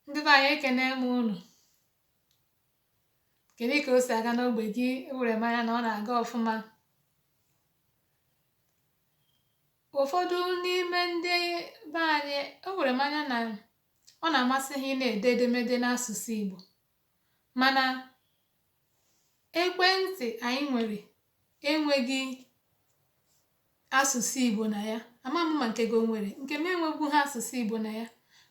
ndị be anyị ekene m unu kedu ka o si aga n'ogbe gị ewere m anya na ọ na-aga ọfụma ụfọdụ n'ime ndị be anyị ewere m anya na ọ na-amasị ha ị na-ede edemede n'asụsụ Igbo mana ekwentị anyị nwere enweghị asụsụ Igbo na ya ama m ma nke gị o nwere nke m enwegwu ha asụsụ Igbo na ya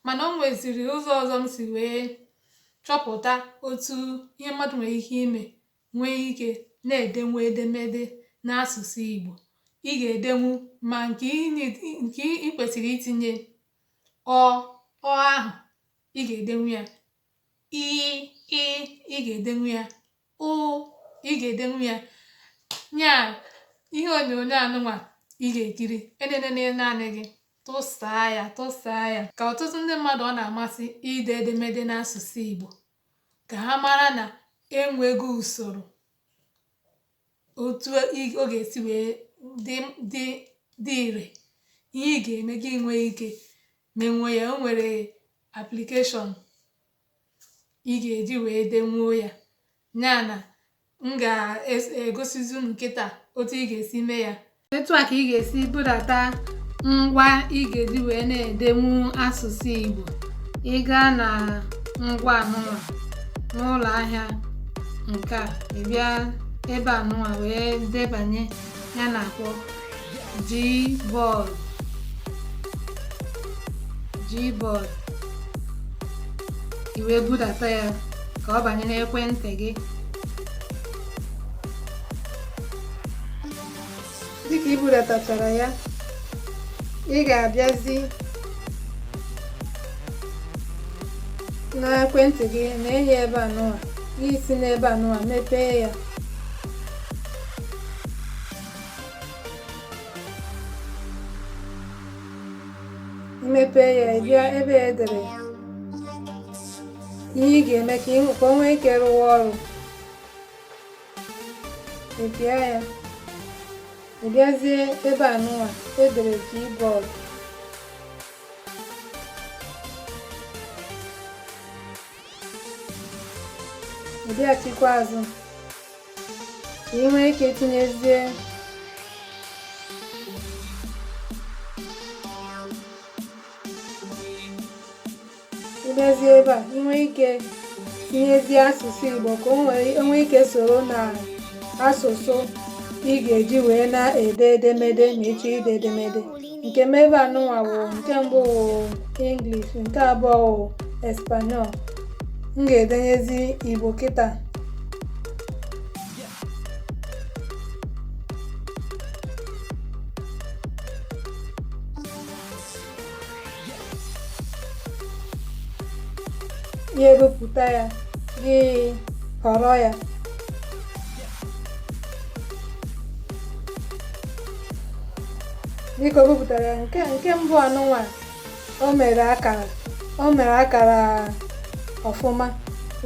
mana o nweziri ụzọ ọzọ m si wee chọpụta otu ihe mmadụ nwere ike ime nwee ike na-edenwu edemede n'asụsụ Igbo ị ga-edenwu ma nke ị kwesịrị itinye ọ ọ ahụ ị ga-edenwu ya i ị ị ga-edenwu ya ụ ị ga-edenwu ya nya ihe onyonyo anụnwa ị ga-ekiri enenene naanị gị tụsaa ya tụsaa ya ka ọtụtụ ndị mmadụ ọ na-amasị ide edemede n'asụsụ Igbo ka ha mara na enwego usoro otu ọ ga-esi wee dị ire ihe ị ga-eme gị nwee ike menwe ya o nwere application ị ga-eji wee denwuo ya ya na m ga-egosizi unu nkịta otu ị ga-esi mee ya etu a ka ị ga-esi budata ngwa ị ga-eji wee na-edenwu asụsụ Igbo ị gaa na ngwa anụnwa n'ụlọ ahịa nke a ị bịa ebe anụnwa wee debanye ya na-akpọ Gboard Gboard i wee budata ya ka ọ banye n'ekwentị gị dịka i budatachara ya ị ga-abịazi n'ekwentị gị na-ene ebe anụwa i si n'ebe anụwa mepee ya i mepee ya ị bịa ebe e dere ihe ị ga-eme ka o nwee ike rụwa ọrụ ị pịa ya ị bịazie ebe anụwa e dere Gboard ị bịachikwa azụ ka ị nwee ike tinyezie ị bịazie ebe a ị nwee ike tinyezie asụsụ Igbo ka o nwee ike soro na asụsụ ị ga-eji wee na-ede edemede ma ị chọọ ide edemede nke m ebe anụnwa wụ nke mbụ wụ English nke abụọ wụ Espanol m ga-edenyezi Igbo kịta ya ebupụta ya gị họrọ ya dịka o bupụtara ya nke nke mbụ anụnwa o mere o mere akara ọfụma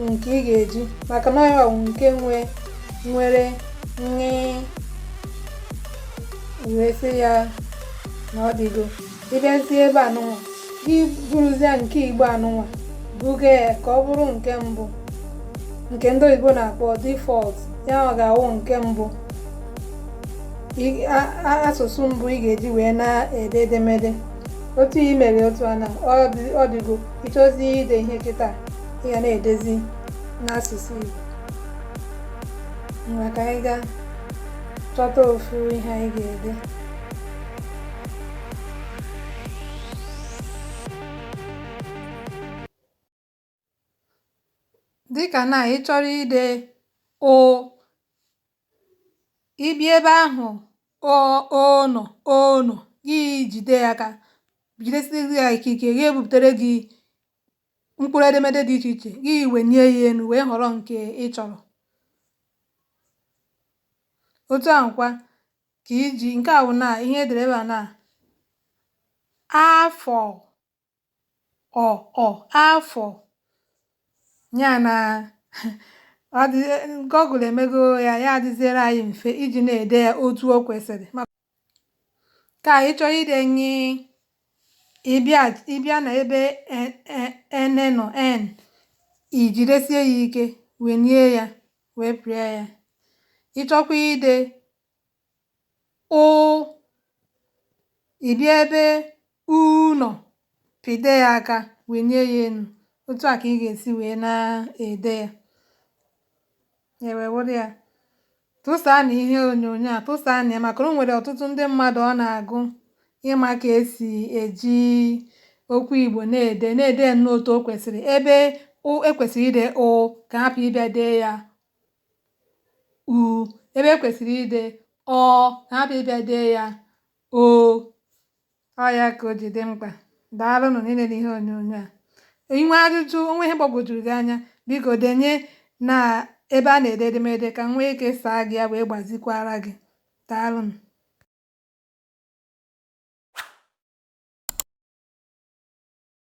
nke ị ga-eji maka na ya ọ wụ nke nwe nwere wee sị ya na ọ dịgo ị bịazie ebe anụnwa gị buruzie nke Igbo anụnwa buga ya ka ọ bụrụ nke mbụ nke ndị oyibo na-akpọ default ya ọ ga-awụ nke mbụ asụsụ mbụ ị ga-eji wee na-ede edemede otu i mere otu a na ọ dịgo ị chọzie ide ihe kịta ị ga na-edezi n'asụsụ Igbo ngwa ka anyị gaa chọta ofu ihe anyị ga-ede dịkà nà ị chọrọ ide ọ ị bịa ebe ahụ̀ o o nọ̀ o nọ̀ gị jìde ya aka jìdesi ya ike ike ya ebùpùtere gị mkpụrụ edemede dị ichè ichè gị wènie ya enu wèe họ̀rọ ǹkè ị chọ̀rọ̀ otu ahụ̀ kwa ka iji nke a bụ na ihe e dere ebe a na afọ ọ ọ afọ ya na ndị Google emego ya ya adịziere anyị mfe iji na-ede ya otu o kwesịrị ka ị chọọ ide ṅ ị bịa na ebe n nọ n i jidesie ya ike wenie ya wee pịa ya ị chọkwa ide ụ ị bịa ebe u nọ pịde ya aka wenie ya enu otu a ka ị ga-esi wee na-ede ya ya wee wụrụ ya tụsaanụ ihe onyonyo a tụsaanụ ya maka na o nwere ọtụtụ ndị mmadụ ọ na-agụ ịma ka e si eji okwu Igbo na-ede na-ede ya nnọọ otu o kwesịrị ebe ụ e kwesịrị ide ụ ka hapụ ịbịa dee ya u ebe e kwesịrị ide ọ na-abịa ịbịa dee ya o ọ ya ka o ji dị mkpa daalụnụ n'ilele ihe onyonyo a i nwee ajụjụ o nwee ihe gbagwojuru gị anya biko denye na ebe a na-ede edemede ka m nwee ike saa gị ya wee gbazikwara gị daalụnụ